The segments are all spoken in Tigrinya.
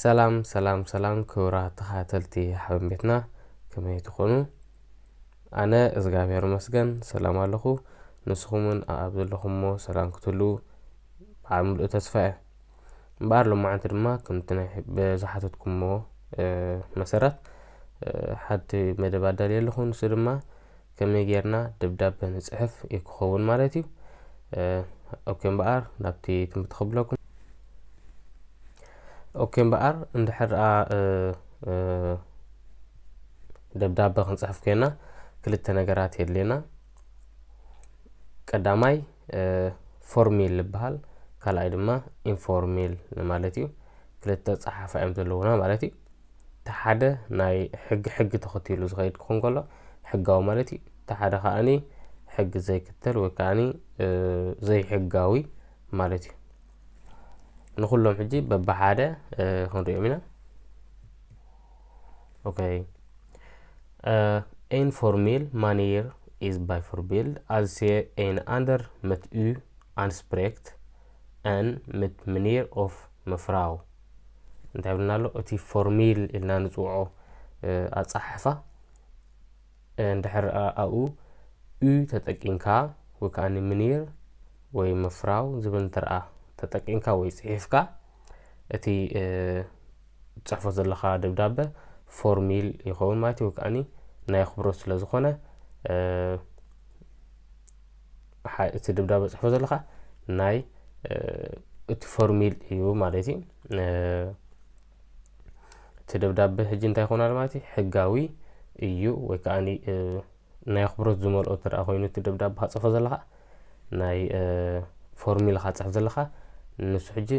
ሰላም ሰላም ሰላም ክብራት ተኸታተልቲ ሓበን ቤትና ከመይ ትኾኑ? ኣነ እዝጋብሔር መስገን ሰላም ኣለኹ። ንስኹምን ኣብ ዘለኹምዎ ሰላም ክትህልዉ በዓል ምሉእ ተስፋ እየ። እምበኣር ሎማዓንቲ ድማ ከምቲ ናይ ብዝሓተትኩምዎ መሰረት ሓንቲ መደብ ኣዳልየ ኣለኹ ንሱ ድማ ከመይ ጌርና ደብዳበ ንጽሕፍ እዩ ክኸውን ማለት እዩ ኦኬ እምበኣር ናብቲ ትምህርቲ ክብለኩም ኦኬ እምበኣር እንድሕር ደብዳበ ክንጽሕፍ ኮይና ክልተ ነገራት የድልየና ቀዳማይ ፎርሚል ዝበሃል ካልኣይ ድማ ኢንፎርሚል ማለት እዩ ክልተ ፀሓፋ እዮም ዘለውና ማለት እዩ እቲ ሓደ ናይ ሕጊ ሕጊ ተኸቲሉ ዝኸይድ ክኾን ከሎ ሕጋዊ ማለት እዩ እቲ ሓደ ከዓኒ ሕጊ ዘይክተል ወይ ከዓኒ ዘይሕጋዊ ማለት እዩ ንኩሎም ሕጂ በብሓደ ክንሪኦም ኢና ኦኬ ኢንፎርሜል ማኔር ኢዝ ባይ ፎርቢል ኣዝ ሴ ኤን ኣንደር መት ዩ ኣንስፕሬክት ኣን መት ምኔር ኦፍ ምፍራው እንታይ ብልና ኣሎ እቲ ፎርሚል ኢልና ንፅውዖ ኣፀሓሕፋ እንድሕር ኣብኡ ዩ ተጠቂምካ ወይ ከዓ ንምኒር ወይ ምፍራው ዝብል እንትርኣ ተጠቂምካ ወይ ፅሒፍካ እቲ ፅሕፎ ዘለካ ደብዳበ ፎርሚል ይኸውን ማለት እዩ ወይ ከዓኒ ናይ ኣኽብሮት ስለ ዝኾነ ሓ- እቲ ደብዳበ ጽሕፎ ዘለኻ ናይ እ፣ እቲ ፎርሚል እዩ ማለት እዩ እ፣ እቲ ደብዳበ ሕጂ እንታይ ይኾናል ማለት እዩ ሕጋዊ እዩ ወይ ከዓ ኒ- እ፣ ናይ ኣኽብሮት ዝመልኦ እንተ ደኣ ኮይኑ እቲ ደብዳበ ካጽፎ ዘለኻ ናይ እ፣ ፎርሚል ካጽሕፍ ዘለኻ ንሱ ሕጂ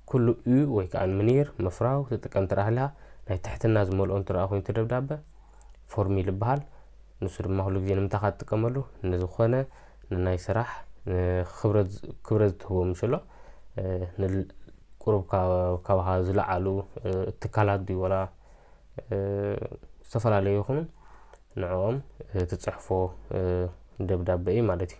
ኩሉ እዩ ወይ ከዓ ምኒር ምፍራው ትጥቀም እንተ ደኣ ሃሊኻ ናይ ትሕትና ዝመልኦ እንተ ደኣ ኮይኑ እቲ ደብዳበ ፎርሚል ይበሃል። ንሱ ድማ ኩሉ ግዜ ንምንታይ ኢኻ ትጥቀመሉ? ንዝኾነ ንናይ ስራሕ ክብረት ክብረት ዝትህቦ ምሽሎ ንቁሩብ ካባኻ ዝለዓሉ ትካላት ድዩ ወላ ዝተፈላለዩ ይኹኑ ንዕኦም ትጽሕፎ ደብዳበ እዩ ማለት እዩ።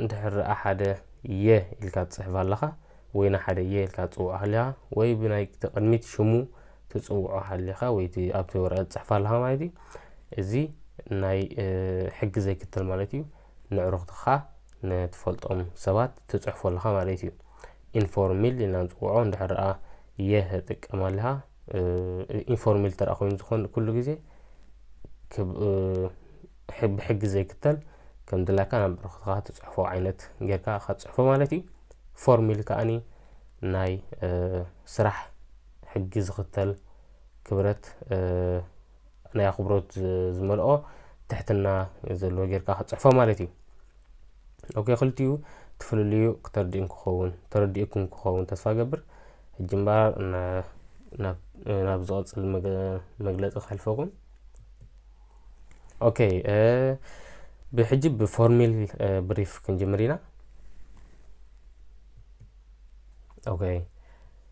እንድሕር ደኣ ሓደ የ ኢልካ ትጽሕፍ ኣለኻ ወይ ንሓደ የ ኢልካ ትጽውዖ ሃሊኻ ወይ ብናይቲ ቅድሚት ሽሙ ትጽውዖ ሃሊኻ ወይ እቲ ኣብቲ ወረቐት ትጽሕፍ ኣለኻ ማለት እዩ። እዚ ናይ ሕጊ ዘይክተል ማለት እዩ። ንዕሩኽትኻ ንትፈልጦም ሰባት ትጽሕፎ ኣለኻ ማለት እዩ። ኢንፎርሚል ኢልና ንጽውዖ እንድሕር ደኣ የ ትጥቀም ኣለኻ ኢንፎርሜል ተረኣ ኮይኑ ዝኾን ኩሉ ግዜ ብሕጊ ዘይክተል ከም ድላካ ናብ ብረክትካ ትፅሕፎ ዓይነት ጌርካ ካትፅሕፎ ማለት እዩ ፎርሚል ከዓኒ ናይ ስራሕ ሕጊ ዝኽተል ክብረት ናይ ኣኽብሮት ዝመልኦ ትሕትና ዘለዎ ጌርካ ክትጽሕፎ ማለት እዩ ኦኬ ክልቲኡ ትፍልልዩ ክተርዲእን ክኸውን ተረዲእኩም ክኸውን ተስፋ ገብር ሕጂ እምበኣር ናብ ዝቐጽል መግለጺ ከሕልፈኹም ኦኬ ብሕጂ ብፎርሚል ብሪፍ ክንጅምር ኢና ኦኬ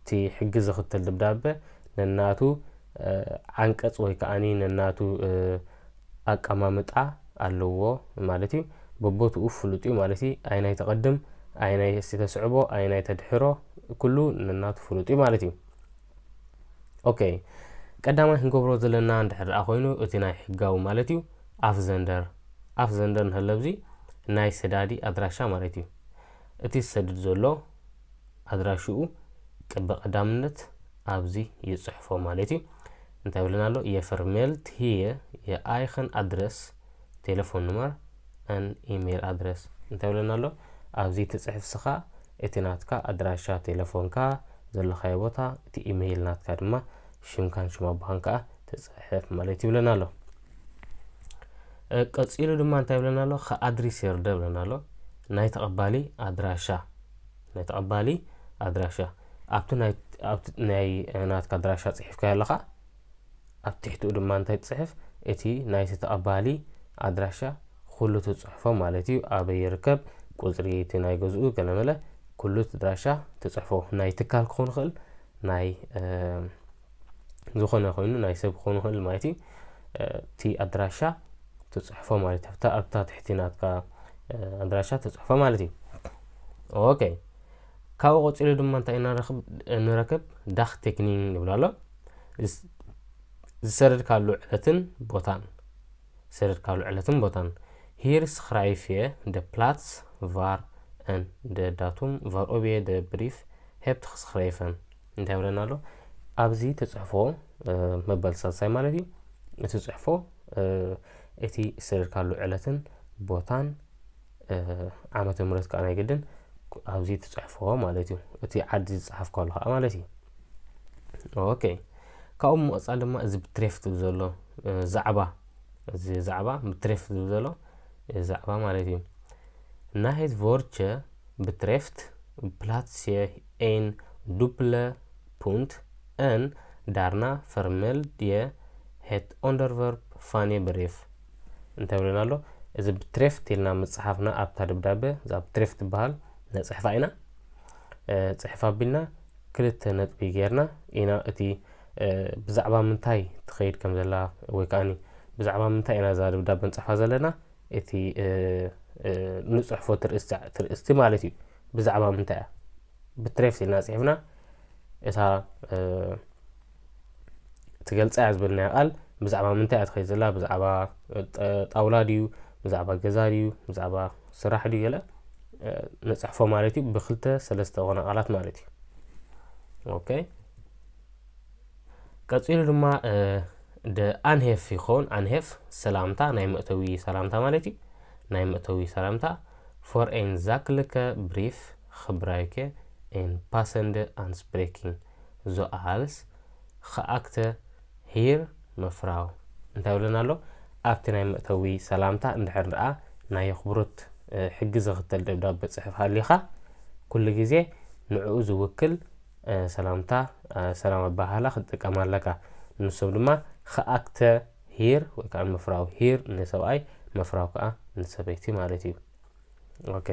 እቲ ሕጊ ዝኽተል ድብዳበ ነናቱ ዓንቀጽ ወይ ከኣ ነናቱ ኣቀማምጣ ኣለዎ ማለት እዩ። በቦትኡ ፍሉጥ እዩ ማለት እዩ። ኣየናይ ተቐድም፣ ኣየናይ እስቲ ተስዕቦ፣ ኣየናይ ተድሕሮ ኩሉ ነናቱ ፍሉጥ እዩ ማለት እዩ። ኦኬ ቀዳማይ ክንገብሮ ዘለና እንድሕር ደኣ ኮይኑ እቲ ናይ ሕጋዊ ማለት እዩ ኣፍ ዘንደር ኣፍ ዘንደር ንህለብዚ ናይ ሰዳዲ ኣድራሻ ማለት እዩ እቲ ዝሰድድ ዘሎ ኣድራሽኡ ቅብ ቀዳምነት ኣብዚ ይጽሕፎ ማለት እዩ እንታይ ብለን ኣሎ የፈርሜልት ሂየ የኣይኸን ኣድረስ ቴሌፎን ንመር ን ኢሜይል ኣድረስ እንታይ ብለን ኣሎ ኣብዚ ትጽሕፍ ስኻ እቲ ናትካ ኣድራሻ ቴሌፎንካ ዘለኻዮ ቦታ እቲ ኢሜይል ናትካ ድማ ሽምካን ሽም ኣቦኻን ከዓ ትጽሕፍ ማለት ይብለና ኣሎ ቀፂሉ ድማ እንታይ ብለና ኣሎ ከኣድሪስ የርደ ብለና ኣሎ ናይ ተቐባሊ ኣድራሻ ናይ ተቐባሊ ኣድራሻ ኣብቲ ናይ ናትካ ኣድራሻ ፅሒፍካዮ ኣለኻ ኣብ ትሕትኡ ድማ እንታይ ትፅሕፍ እቲ ናይቲ ተቐባሊ ኣድራሻ ኩሉ ትፅሕፎ ማለት እዩ ኣበይ ይርከብ ቁፅሪ እቲ ናይ ገዝኡ ገለመለ ኩሉ ኣድራሻ ትፅሕፎ ናይ ትካል ክኸውን ይኽእል ናይ ዝኾነ ኮይኑ ናይ ሰብ ክኾን ይኽእል ማለት እዩ እቲ ኣድራሻ ትፅሕፎ ማለት እዩ ኣብታ ትሕቲ ናትካ ኣድራሻ ትፅሕፎ ማለት እዩ ኦኬ ካብኡ ቀፂሉ ድማ እንታይ ንረክብ ዳክ ቴክኒንግ ንብሎ ኣሎ ዝሰደድካሉ ዕለትን ቦታን ዝሰደድካሉ ዕለትን ቦታን ሂር ስክራይፍ እየ ደ ፕላትስ ቫር ን ደ ዳቱም ቫር ኦብየ ደ ብሪፍ ሄፕት ክስክራይፈን እንታይ ይብለና ኣሎ ኣብዚ ትፅሕፎ መባል ሳልሳይ ማለት እዩ እቲ ፅሕፎ እቲ ዝሰደድካሉ ዕለትን ቦታን ዓመተ ምረት ከዓ ናይ ግድን ኣብዚ ትፅሕፎ ማለት እዩ እቲ ዓዲ ዝፀሓፍካሉ ከዓ ማለት እዩ ኦኬ ካብኡ ምቕፃል ድማ እዚ ብትሬፍ ትብል ዘሎ ዛዕባ እዚ ዛዕባ ብትሬፍ ትብል ዘሎ ዛዕባ ማለት እዩ ናይት ቮርቸ ብትሬፍት ፕላትሴ ኤን ዱፕለ ፑንት ን ዳርና ፈርመል ድየ ሄት ኦንደርቨርብ ፋኔ ብሬፍ እንታይ ብለና ኣሎ እዚ ብትሬፍት ኢልና ምጽሓፍና ኣብታ ደብዳበ እዛ ብትሬፍት ትበሃል ነፅሕፋ ኢና ፅሕፍ ኣቢልና ክልተ ነጥቢ ጌርና ኢና እቲ ብዛዕባ ምንታይ ትኸይድ ከም ዘላ ወይ ከዓኒ ብዛዕባ ምንታይ ኢና እዛ ደብዳበ ንፅሕፋ ዘለና እቲ እንጽሕፎ ትርእስቲ ማለት እዩ ብዛዕባ ምንታይ እያ ብትሬፍት ኢልና ጽሒፍና እታ ትገልጻ እያ ዝበልናያ ቃል ብዛዕባ ምንታይ እያ ትኸይድ ዘላ ብዛዕባ ጣውላ ድዩ ብዛዕባ ገዛ ድዩ ብዛዕባ ስራሕ ድዩ ገለ ንጽሕፎ ማለት እዩ ብክልተ ሰለስተ ኾነ ቃላት ማለት እዩ ኦኬ ቀጺሉ ድማ ደ ኣንሄፍ ይኸውን ኣንሄፍ ሰላምታ ናይ መእተዊ ሰላምታ ማለት እዩ ናይ መእተዊ ሰላምታ ፎር ኤን ዛክልከ ብሪፍ ክብራይከ ኤን ፓሰንደ ኣንስፕሬኪን ዞ ኣሃልስ ክኣክተ ሂር መፍራው እንታይ ብለና ኣሎ ኣብቲ ናይ መእተዊ ሰላምታ እንድሕር ደኣ ናይ ኣኽብሮት ሕጊ ዘኽተል ደብዳበ ጽሕፍ ሃሊኻ ኩሉ ግዜ ንዕኡ ዝውክል ሰላምታ ሰላም ኣበሃህላ ክትጥቀም ኣለካ። ንሶም ድማ ኸኣክተ ሂር ወይ ከዓ መፍራዊ ሂር ንሰብኣይ መፍራዊ ከዓ ንሰበይቲ ማለት እዩ። ኦኬ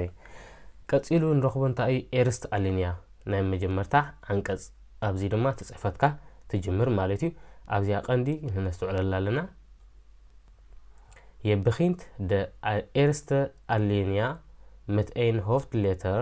ቀጺሉ ንረኽቦ እንታይ እዩ ኤርስት ኣሊንያ ናይ መጀመርታ ዓንቀጽ ኣብዚ ድማ ትጽሕፈትካ ትጅምር ማለት እዩ። ኣብዚኣ ቀንዲ ነስተውዕለላ ኣለና የብኺንት ደ ኤርስተ ኣሊንያ መት ኤን ሆፍት ሌተር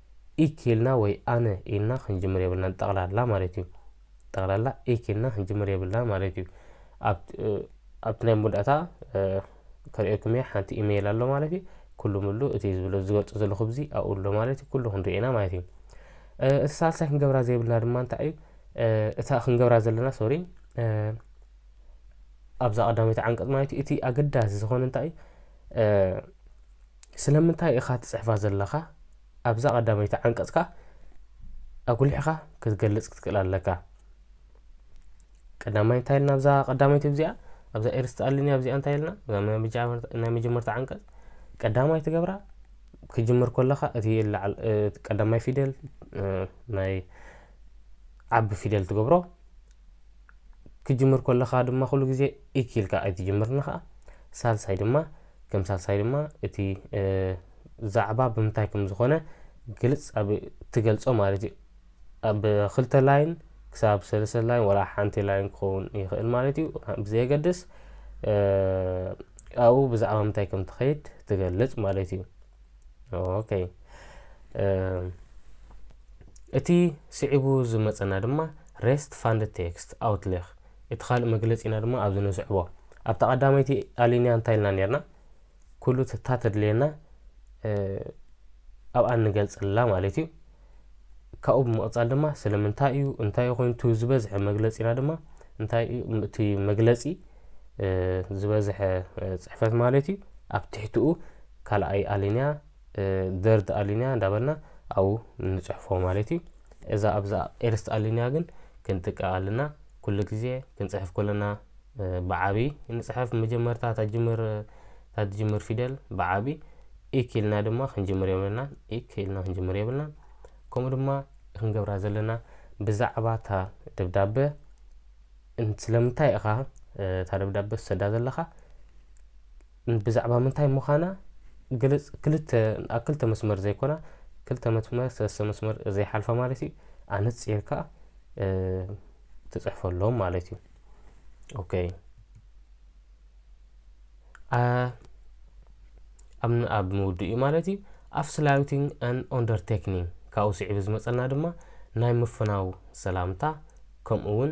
ኢኪ ኢልና ወይ ኣነ ኢልና ክንጅምር የብልናን ጠቕላላ ማለት እዩ ጠቕላላ ኢኪ ኢልና ክንጅምር የብልናን ማለት እዩ ኣብቲ ናይ መወዳእታ ከርእየኩም እየ ሓንቲ ኢሜይል ኣሎ ማለት እዩ ኩሉ ምሉ እቲ ዝብሎ ዝገልጾ ዘለኹ ብዚ ኣብኡ ኣሎ ማለት እዩ ኩሉ ክንሪኦ ኢና ማለት እዩ እቲ ሳልሳይ ክንገብራ ዘይብልና ድማ እንታይ እዩ እታ ክንገብራ ዘለና ሶሪ ኣብዛ ቀዳመይቲ ዓንቀጽ ማለት እዩ እቲ ኣገዳሲ ዝኾነ እንታይ እዩ ስለምንታይ ኢኻ ትጽሕፋ ዘለኻ ኣብዛ ቀዳመይቲ ዓንቀጽ ከኣ ኣጉሊሕኻ ክትገልጽ ክትክእል ኣለካ ቀዳማይ እንታይ ኢልና ኣብዛ ቀዳመይቲ እዚኣ ኣብዛ ኤርስቲ ኣልኒ ኣብዚኣ እንታይ ኢልና ናይ መጀመርታ ዓንቀጽ ቀዳማይ ትገብራ ክጅምር ከለኻ እቲ ቀዳማይ ፊደል ናይ ዓቢ ፊደል ትገብሮ ክጅምር ከለኻ ድማ ኩሉ ግዜ ኢኪ ኢልካ ኣይትጅምርን ኸኣ ሳልሳይ ድማ ከም ሳልሳይ ድማ እቲ ዛዕባ ብምንታይ ከም ዝኾነ ግልጽ ኣብ ትገልጾ ማለት እዩ ኣብ ክልተ ላይን ክሳብ ሰለስተ ላይን ወላ ሓንቲ ላይን ክኸውን ይኽእል ማለት እዩ ብዘየገድስ ኣብኡ ብዛዕባ ምንታይ ከም ትኸይድ ትገልጽ ማለት እዩ ኦኬ እቲ ስዒቡ ዝመፀና ድማ ሬስት ፋንድ ቴክስት ኣውትሌክ እቲ ካልእ መግለጺና ድማ ኣብዚ ንስዕቦ። ኣብታ ቀዳመይቲ ኣሊንያ እንታይ ኢልና ኔርና? ኩሉ እታ ተድልየና ኣብኣ ንገልጸላ ማለት እዩ። ካብኡ ብምቕጻል ድማ ስለምንታይ እዩ እንታይ እዩ ኮይኑ እቲ ዝበዝሐ መግለጺና ድማ እንታይ እዩ እቲ መግለጺ ዝበዝሐ ጽሕፈት ማለት እዩ ኣብ ትሕትኡ ካልኣይ ኣሊንያ ደርድ ኣሊንያ እንዳበልና ኣብኡ ንጽሕፎ ማለት እዩ እዛ ኣብዛ ኤርስት ኣሊንያ ግን ክንጥቀቕ ኣለና ኩሉ ግዜ ክንጽሕፍ ከለና ብዓብይ ንጽሕፍ መጀመርታ ታጅምር ታትጅምር ፊደል ብዓብይ ኢክ ኢልና ድማ ክንጅምር የብልና ኢክ ኢልና ክንጅምር የብልና ከምኡ ድማ ክንገብራ ዘለና ብዛዕባ እታ ደብዳበ ስለምንታይ ኢኻ እታ ደብዳበ ትሰዳ ዘለኻ ብዛዕባ ምንታይ ምዃና ግልጽ ክልተ ኣብ ክልተ መስመር ዘይኮና ክልተ መስመር ሰለስተ መስመር ዘይሓልፋ ማለት እዩ ኣነጺርካ ትጽሕፈሎም ማለት እዩ ኦኬ ኣብ ምውድእ እዩ ማለት እዩ ኣፍስላዩቲንግ ኣን ኦንደርቴክኒንግ ካብኡ ስዒቡ ዝመፀና ድማ ናይ ምፍናው ሰላምታ ከምኡ እውን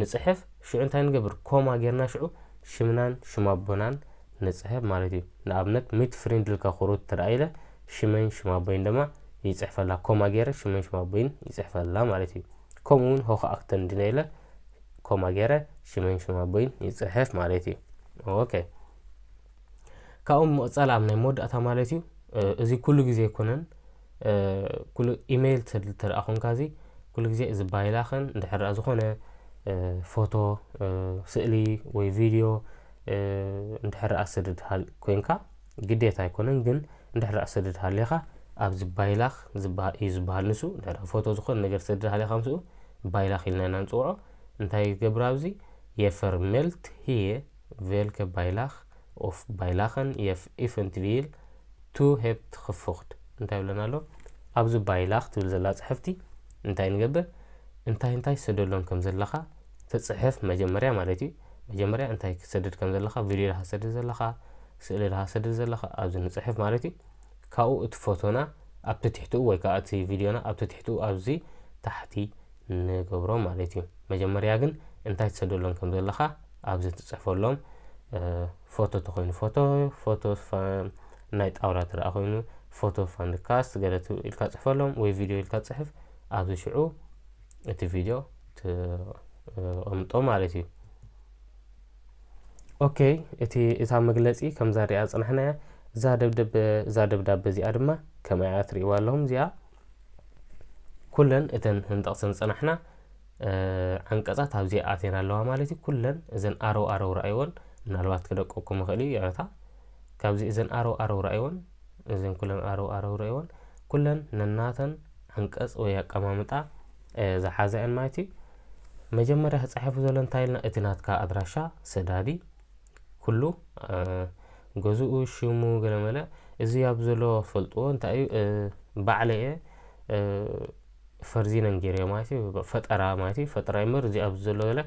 ንጽሕፍ ሽዑ እንታይ ንገብር ኮማ ጌርና ሽዑ ሽምናን ሽም ኣቦናን ንጽሕፍ ማለት እዩ ንኣብነት ሚት ፍሪንድ ኢልካ ክሩት ትርኣ ኢለ ሽመይን ሽም ኣቦይን ደማ ይጽሕፈላ ኮማ ጌረ ሽመይን ሽም ኣቦይን ይጽሕፈላ ማለት እዩ ከምኡ ውን ሆኸ ኣክተን ድነ ኢለ ኮማ ጌረ ሽመይን ሽም ኣቦይን ይጽሕፍ ማለት እዩ ኦኬ ካብኡ ምቕጻል ኣብ ናይ መወዳእታ ማለት እዩ እዚ ኩሉ ግዜ ኣይኮነን ኩሉ ኢመይል ትሰድል ተደኣ ኮንካ እዚ ኩሉ ግዜ እዚ ባይላኽን እንድሕር ደኣ ዝኾነ ፎቶ ስእሊ ወይ ቪድዮ እንድሕር ደኣ ሰድድ ኮንካ ግዴታ ኣይኮነን ግን እንድሕር ደኣ ሰድድ ሃሊኻ ኣብዚ ባይላኽ እዩ ዝበሃል ንሱ እንድሕር ደኣ ፎቶ ዝኾነ ነገር ሰድድ ሃሊኻ ምስኡ ባይላኽ ኢልና ኢና ንፅውዖ እንታይ ይገብር ኣብዚ የፈርሜልት ህየ ቨልከ ባይላኽ ኦፍ ባይላኸን የፍ ኢፍንት ቪል ቱ ሄፕት ኽፉኽድ እንታይ ይብለና ኣሎ ኣብዚ ባይላኽ ትብል ዘላ ጽሕፍቲ እንታይ ንገብር እንታይ እንታይ ሰደሎም ከም ዘለኻ ትጽሕፍ መጀመርያ ማለት እዩ መጀመርያ እንታይ ክትሰድድ ከም ዘለኻ ቪድዮ ድኻ ሰድድ ዘለኻ ስእሊ ድኻ ሰድድ ዘለኻ ኣብዚ ንጽሕፍ ማለት እዩ ካብኡ እቲ ፎቶና ኣብቲ ትሕትኡ ወይ ከዓ እቲ ቪድዮና ኣብቲ ትሕትኡ ኣብዚ ታሕቲ ንገብሮ ማለት እዩ መጀመርያ ግን እንታይ ትሰደሎም ከም ዘለኻ ኣብዚ ትጽሕፈሎም ፎቶ ተኮይኑ ፎቶ ፎቶ ናይ ጣውላ ትረኣ ኮይኑ ፎቶ ፋንድ ካስት ገለ ኢልካ ጽሕፈሎም ወይ ቪድዮ ኢልካ ጽሕፍ ኣብዚ ሽዑ እቲ ቪድዮ ትቕምጦ ማለት እዩ ኦኬ እቲ እታ መግለጺ ከምዛ ሪኣ ጽናሕናያ እዛ ደብደብ እዛ ደብዳበ እዚኣ ድማ ከምኣያ ትርእይዋ ኣለኹም እዚኣ ኩለን እተን ክንጠቕሰን ዝጸናሕና ዓንቀጻት ኣብዚ ኣትየን ኣለዋ ማለት እዩ ኩለን እዘን ኣረው ኣረው ረኣይወን ምናልባት ክደቀኩም ይኽእል እዩ ይቕረታ ካብዚ እዘን ኣረው ኣረው ረኣይወን እዘን ኩለን ኣረው ኣረው ረኣይወን ኩለን ነናተን ዓንቀጽ ወይ ኣቀማምጣ ዝሓዛ እየን ማለት እዩ መጀመርያ ክፀሐፉ ዘሎ እንታይ ኢልና እቲ ናትካ ኣድራሻ ሰዳዲ ኩሉ ገዝኡ ሽሙ ገለመለ እዚ ኣብ ዘሎ ፈልጥዎ እንታይ እዩ ባዕለ እየ ፈርዚነን ጌርዮ ማለት እዩ ፈጠራ ማለት እዩ ፈጠራ ይምበር እዚ ኣብዚ ዘሎ ገለ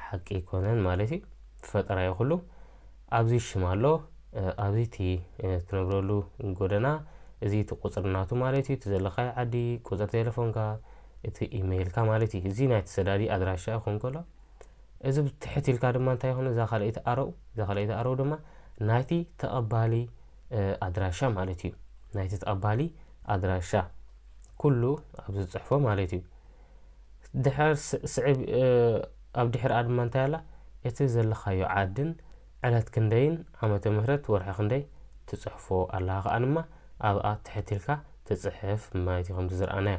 ሓቂ ኣይኮነን ማለት እዩ ፈጠራ እዩ ኩሉ ኣብዚ ሽም ኣሎ ኣብዚ እቲ ትነብረሉ ጎደና እዚ እቲ ቁፅሪ ናቱ ማለት እዩ እቲ ዘለካዮ ዓዲ ቁፅሪ ቴሌፎንካ እቲ ኢሜይልካ ማለት እዩ እዚ ናይ ተሰዳዲ ኣድራሻ ክኸውን ከሎ እዚ ትሕት ኢልካ ድማ እንታይ ይኹን እዛ ካልኣይቲ ኣረው እዛ ካልኣይቲ ኣረው ድማ ናይቲ ተቐባሊ ኣድራሻ ማለት እዩ ናይቲ ተቐባሊ ኣድራሻ ኩሉ ኣብ ዝፅሕፎ ማለት እዩ ድሕር ስዕብ ኣብ ድሕር ኣድማ እንታይ ኣላ እቲ ዘለኻዮ ዓድን ዕለት ክንደይን ዓመተ ምህረት ወርሒ ክንደይ ትፅሕፎ ኣለኻ ከኣ ድማ ኣብኣ ትሕት ኢልካ ትፅሕፍ ማለት እዩ ከምቲ ዝረኣናዮ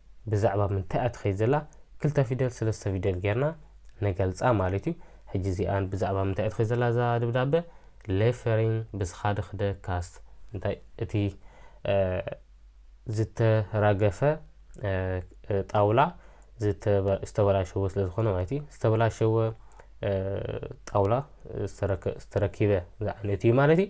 ብዛዕባ ምንታይ እያ ትኸይድ ዘላ ክልተ ፊደል ስለስተ ፊደል ጌርና ንገልጻ ማለት እዩ። ሕጂ እዚኣ ብዛዕባ ምንታይ እያ ትኸይድ ዘላ እዛ ደብዳበ ሌፈሪንግ ብስኻድኽ ደ ካስት እንታይ እቲ ዝተራገፈ ጣውላ ዝተበላሸወ ስለ ዝኾነ ማለት እዩ ዝተበላሸወ ጣውላ ዝተረኪበ ዝዓይነቱ እዩ ማለት እዩ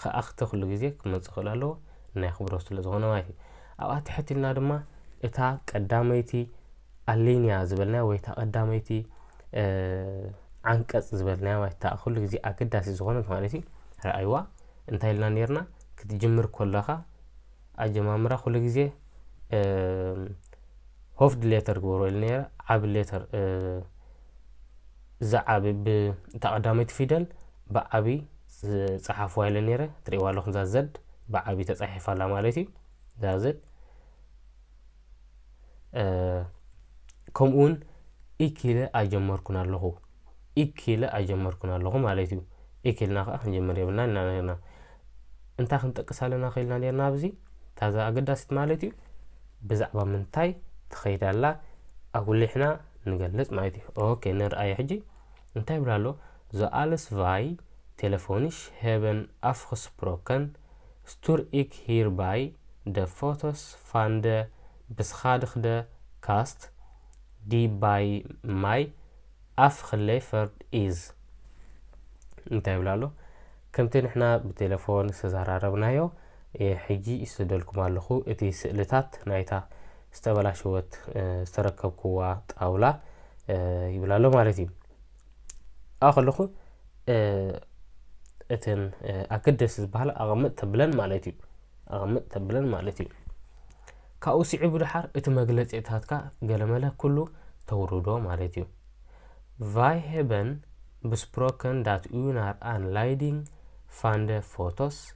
ኸኣኽተ ኩሉ ግዜ ክመጽእ ክእል ኣለዎ ናይ ኣኽብሮት ስለ ዝኾነ ማለት እዩ ኣብኣ ትሕት ኢልና ድማ እታ ቀዳመይቲ ኣሊንያ ዝበልናያ ወይ እታ ቀዳመይቲ ዓንቀጽ ዝበልናያ ማለት እታ ኩሉ ግዜ ኣገዳሲ ዝኾነት ማለት እዩ ረኣይዋ እንታይ ኢልና ነርና ክትጅምር ኮለኻ ኣጀማምራ ኩሉ ግዜ ሆፍድ ሌተር ግበሮ ኢሉ ነረ ዓብ ሌተር ዝዓቢ ብ እታ ቀዳመይቲ ፊደል ብዓቢ ዝጸሓፍዋ ኢለ ኔረ ትርእይዋ ኣለኹም እዛ Z ብዓቢ ተጻሒፋ ኣላ ማለት እዩ እዛ Z ከምኡ ውን ኢክ ኢለ ኣይጀመርኩን ኣለኹ ኢክ ኢለ ኣይጀመርኩን ኣለኹ ማለት እዩ ኢክ ኢልና ከዓ ክንጀምር የብልና ኢና ነርና እንታይ ክንጠቅስ ኣለና ክኢልና ነርና ኣብዚ ታዛ ኣገዳሲት ማለት እዩ ብዛዕባ ምንታይ ትኸይድ ኣላ ኣጉሊሕና ንገልጽ ማለት እዩ። ኦኬ ንርኣዮ ሕጂ እንታይ ይብል ኣሎ ዞ ኣልስ ቫይ ቴለፎኒሽ ሄበን ኣፍክስፕሮከን ስቱር ኢክ ሂር ባይ ደ ፎቶስ ፋን ደ ብስኻድክደ ካስት ዲ ባይ ማይ ኣፍክሌፈርድ ኢዝ እንታይ ይብል ኣሎ ከምቲ ንሕና ብቴለፎን ዝተዘራረብናዮ እየ ሕጂ ይስደልኩም ኣለኹ እቲ ስእልታት ናይታ ዝተበላሸወት ዝተረከብኩዋ ጣውላ ይብል ኣሎ ማለት እዩ ኣብኡ ከለኹ እተን ኣገደሲ ዝበሃላ ኣቐምጥ ተብለን ማለት እዩ ኣቐምጥ ተብለን ማለት እዩ ካብኡ ስዒቡ ድሓር እቲ መግለፂታትካ ገለመለ ኩሉ ተውርዶ ማለት እዩ ቫይሄበን ብስፕሮከን ዳት ኡናር ኣን ላይዲንግ ፋንደ ፎቶስ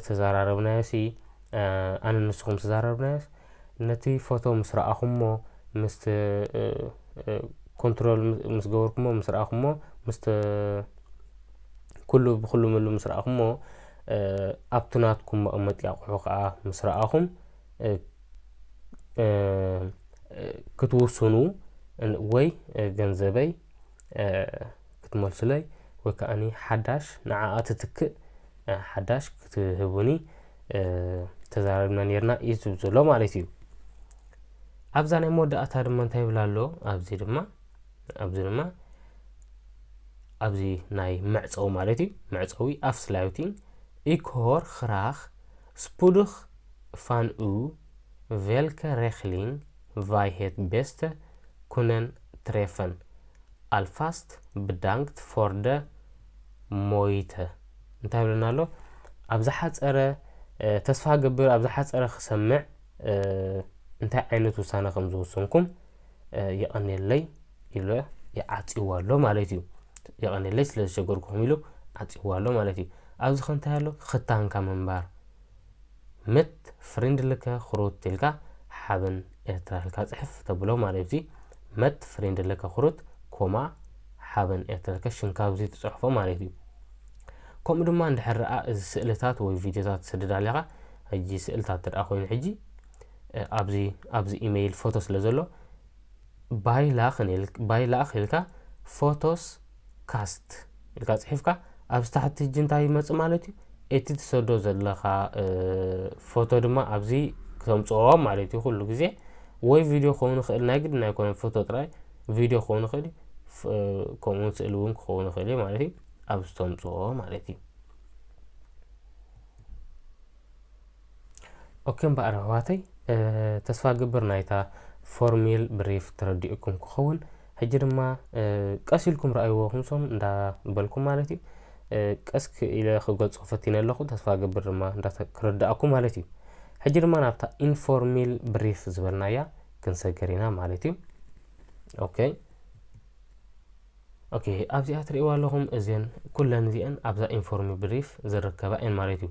ዝተዘራረብናዮሲ ኣነን ንስኹም ዝተዘራረብናዮስ ነቲ ፎቶ ምስ ረኣኹሞ ምስ ኮንትሮል ምስ ገበርኩሞ ምስ ረኣኹሞ ምስ ኩሉ ብኩሉ ምሉ ምስ ረኣኹሞ ኣብቲ ናትኩም መቐመጢ ኣቑሑ ከዓ ምስ ረኣኹም ክትውስኑ ወይ ገንዘበይ ክትመልሱለይ ወይ ከኣኒ ሓዳሽ ንዓኣ ትትክእ ሓዳሽ ክትህቡኒ ተዛራሪብና ኔርና እዩ ዝብል ዘሎ ማለት እዩ ኣብዛ ናይ መወዳእታ ድማ እንታይ ይብል ኣሎ ኣብዚ ድማ ኣብዚ ድማ ኣብዚ ናይ መዕፀዊ ማለት እዩ መዕፀዊ ኣፍስላዩቲን ኢኮር ክራክ ስፑዱክ ፋንኡ ቬልከ ሬክሊንግ ቫይ ሄት ቤስተ ኩነን ትሬፈን ኣልፋስት ብዳንክት ፎር ደ ሞይተ እንታይ ይብለና ኣሎ ኣብ ዝሓጸረ ተስፋ እገብር ኣብ ዝሓጸረ ክሰምዕ እንታይ ዓይነት ውሳነ ከም ዝወሰንኩም የቐኔለይ ኢሉ ይዓጽዎ ኣሎ ማለት እዩ የቐኔለይ ስለ ዝሸገርኩም ኢሉ ዓጽዎ ኣሎ ማለት እዩ ኣብዚ ከንታይ ኣሎ ክታንካ ምንባር መት ፍሪንድልከ ኹሩት ኢልካ ሓበን ኤርትራ ኢልካ ጽሕፍ ተብሎ ማለት እዚ መት ፍሪንድልከ ኹሩት ኮማ ሓበን ኤርትራ ኢልካ ሽንካ ኣብዚ ትጽሕፎ ማለት እዩ ከምኡ ድማ እንድሕር ረኣ እዚ ስእልታት ወይ ቪድዮታት ትሰድድ ኣለኻ ሕጂ ስእልታት ትርኣ ኮይኑ ሕጂ ኣብዚ ኣብዚ ኢሜይል ፎቶ ስለ ዘሎ ባይ ላኽ ባይ ላኽ ኢልካ ፎቶስ ካስት ኢልካ ጽሒፍካ ኣብዚ ታሕቲ ሕጂ እንታይ ይመጽእ ማለት እዩ እቲ ትሰዶ ዘለኻ ፎቶ ድማ ኣብዚ ክተምፅኦ ማለት እዩ ኩሉ ግዜ ወይ ቪድዮ ክኸውን ይኽእል ናይ ግድን ኣይኮነን ፎቶ ጥራይ ቪድዮ ክኸውን ይኽእል ከምኡውን ስእሊ እውን ክኸውን ይኽእል እዩ ማለት እዩ ኣብዚ ተምፅኦ ማለት እዩ ኦኬ እምበኣር ኣሕዋተይ ተስፋ እገብር ናይታ ፎርሚል ብሪፍ ተረዲኡኩም ክኸውን ሕጂ ድማ ቀስ ኢልኩም ረኣይዎ ክምሶም እንዳበልኩም ማለት እዩ ቀስ ኢለ ክገልጾ ፈቲነ ኣለኹ ተስፋ ገብር ድማ ክርዳእኩ ማለት እዩ ሕጂ ድማ ናብታ ኢንፎርሚል ብሪፍ ዝበልናያ ክንሰገር ኢና ማለት እዩ ኦኬ ኦኬ ኣብዚኣ ትርእይዋ ኣለኹም እዚን ኩለን እዚአን ኣብዛ ኢንፎርሚ ብሪፍ ዝርከባ እየን ማለት እዩ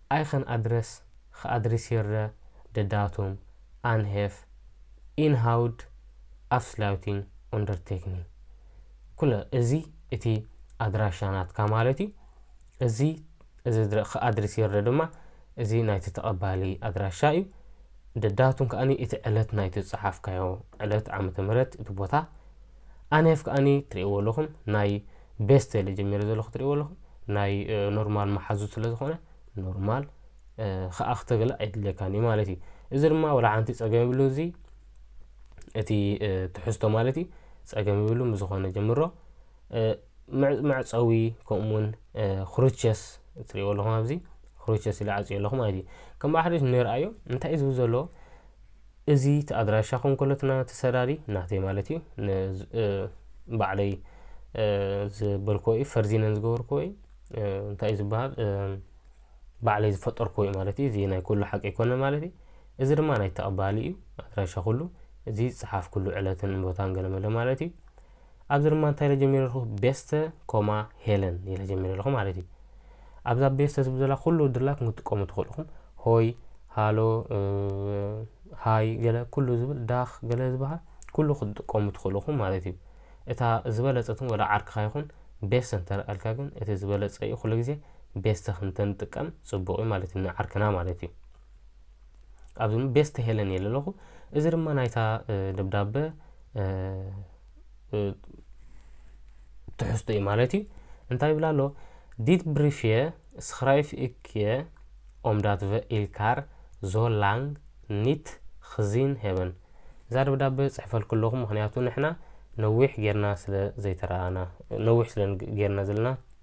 ኣይኸን ኣድረስ ኸኣድሪሲርረ ደዳቱም ኣንሄፍ ኢንሃውድ ኣፍስላዩቲንግ ኡንደርቴክኒንግ ኩለ እዚ እቲ ኣድራሻ ናትካ ማለት እዩ። እዚ እዚ ድረ ኸኣድሪሲርረ ድማ እዚ ናይቲ ተቐባሊ ኣድራሻ እዩ። ደዳቱም ከኣኒ እቲ ዕለት ናይቲ ዝጸሓፍካዮ ዕለት ዓመተ ምህረት እቲ ቦታ፣ ኣንያፍ ከኣኒ ትሪእዎ ኣለኹም ናይ ቤስተሊ ጀሚረ ዘለኹ ትሪእዎ ኣለኹም ናይ ኖርማል መሓዙት ስለ ዝኾነ ኖርማል ከኣ ክተገለ ኣይድልየካን እዩ ማለት እዩ እዚ ድማ ወላ ሓንቲ ጸገም ይብሉ እዚ እቲ ትሕዝቶ ማለት እዩ ጸገም ይብሉ ምስዝኾነ ጀምሮ መዕፀዊ ከምኡውን ክሩቸስ እትሪእዎ ኣለኹም ኣብዚ ክሩቸስ ኢለ ዓፅዮ ኣለኹ ማለት እዩ ከም ባሕሪ ንርኣዮ እንታይ እዩ ዝብል ዘሎ እዚ እቲ ኣድራሻ ኮንኮሎትና እቲ ሰራሪ ናተይ ማለት እዩ ባዕለይ ዝበልክዎ እዩ ፈርዚነን ዝገበርክዎ እዩ እንታይ እዩ ዝበሃል ባዕለይ ዝፈጠርክዎ እዩ ማለት እዩ እዚ ናይ ኩሉ ሓቂ ኣይኮነ ማለት እዩ እዚ ድማ ናይ ተቐባሊ እዩ ኣድራሻ ኩሉ እዚ ዝፀሓፍኩሉ ዕለትን ቦታን ገለመለ ማለት እዩ ኣብዚ ድማ እንታይ ኢለ ጀሚረ ኣለኹ ቤስተ ኮማ ሄለን ኢለ ጀሚረ ኣለኹ ማለት እዩ ኣብዛ ቤስተ ዝብል ዘላ ኩሉ ድላክ ክትጥቀሙ ትኽእሉ ኢኹም ሆይ ሃሎ ሃይ ገለ ኩሉ ዝብል ዳኽ ገለ ዝበሃል ኩሉ ክትጥቀሙ ትኽእሉ ኢኹም ማለት እዩ እታ ዝበለፀትን ወላ ዓርክኻ ይኹን ቤስተ እንተረኣልካ ግን እቲ ዝበለፀ እዩ ኩሉ ግዜ ቤስተ ክንተንጥቀም ፅቡቕ እዩ ማለት እዩ ንዓርክና ማለት እዩ ኣብዚ ቤስት ሄለን እየ ለለኹ እዚ ድማ ናይታ ደብዳበ ትሕዝቶ እዩ ማለት እዩ እንታይ ይብላ ኣሎ ዲት ብሪፍየ ስክራይፍ እክየ ኦምዳት ቨ ኢልካር ዞላንግ ኒት ክዚን ሄበን እዛ ደብዳበ ፅሕፈልኩ ኣለኹ ምክንያቱ ንሕና ነዊሕ ጌርና ስለ ዘይተረኣና ነዊሕ ስለ ጌርና ዘለና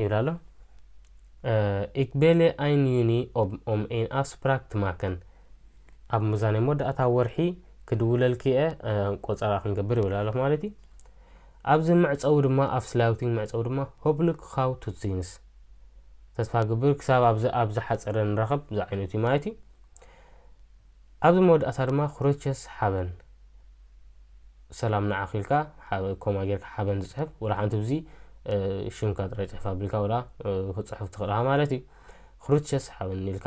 ይብል ኣሎ ኢክ ቤሌ ኣይን ዩኒ ኦም ኤን ኣፍስፕራክ ትማከን ኣብ ሙዛኔ ሞዳእታ ወርሒ ክድውለልኪ እየ ቆፀራ ክንገብር ይብል ኣሎ ማለት እዩ ኣብዚ መዕፀዊ ድማ ኣፍስላውቲንግ መዕፀዊ ድማ ሆብልክ ካው ቱትዚንስ ተስፋ ግብር ክሳብ ኣብዚ ኣብ ዝሓፀረ ንረኸብ ዝዓይነቱ ማለት እዩ ኣብዚ መወዳእታ ድማ ክሮቸስ ሓበን ሰላም ንዓኺ ኢልካ ሓበ ኮማ ጌርካ ሓበን ዝጽሕፍ ወላ ሓንቲ ብዚ ሽምካ ጥራይ ጽሕፍ ኣቢልካ ወላ ክትጽሕፍ ትኽእል ኢኻ ማለት እዩ ክሮቸስ ሓበን ኢልካ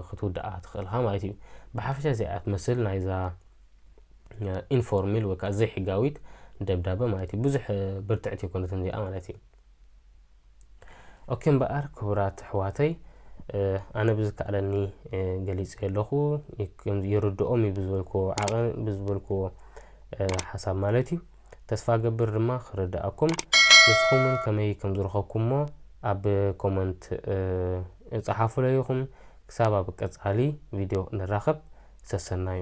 ክትውድኣ ትኽእል ኢኻ ማለት እዩ ብሓፈሻ እዚኣ ትመስል ናይዛ ኢንፎርሚል ወይ ከዓ ዘይሕጋዊት ደብዳበ ማለት እዩ ብዙሕ ብርትዕቲ ይኮነትን እዚኣ ማለት እዩ ኦኬ እምበኣር ክቡራት ኣሕዋተይ ኣነ ብዝከኣለኒ ገሊፀ ኣለኹ ይርድኦም እዩ ብዝበልክዎ ዓቐ ብዝበልክዎ ሓሳብ ማለት እዩ ተስፋ ገብር ድማ ክርድኣኩም ንስኹም እውን ከመይ ከም ዝረኸብኩምሞ ኣብ ኮመንት እፀሓፉለይኹም ክሳብ ኣብ ቀፃሊ ቪድዮ ንራኸብ ሰሰናዩ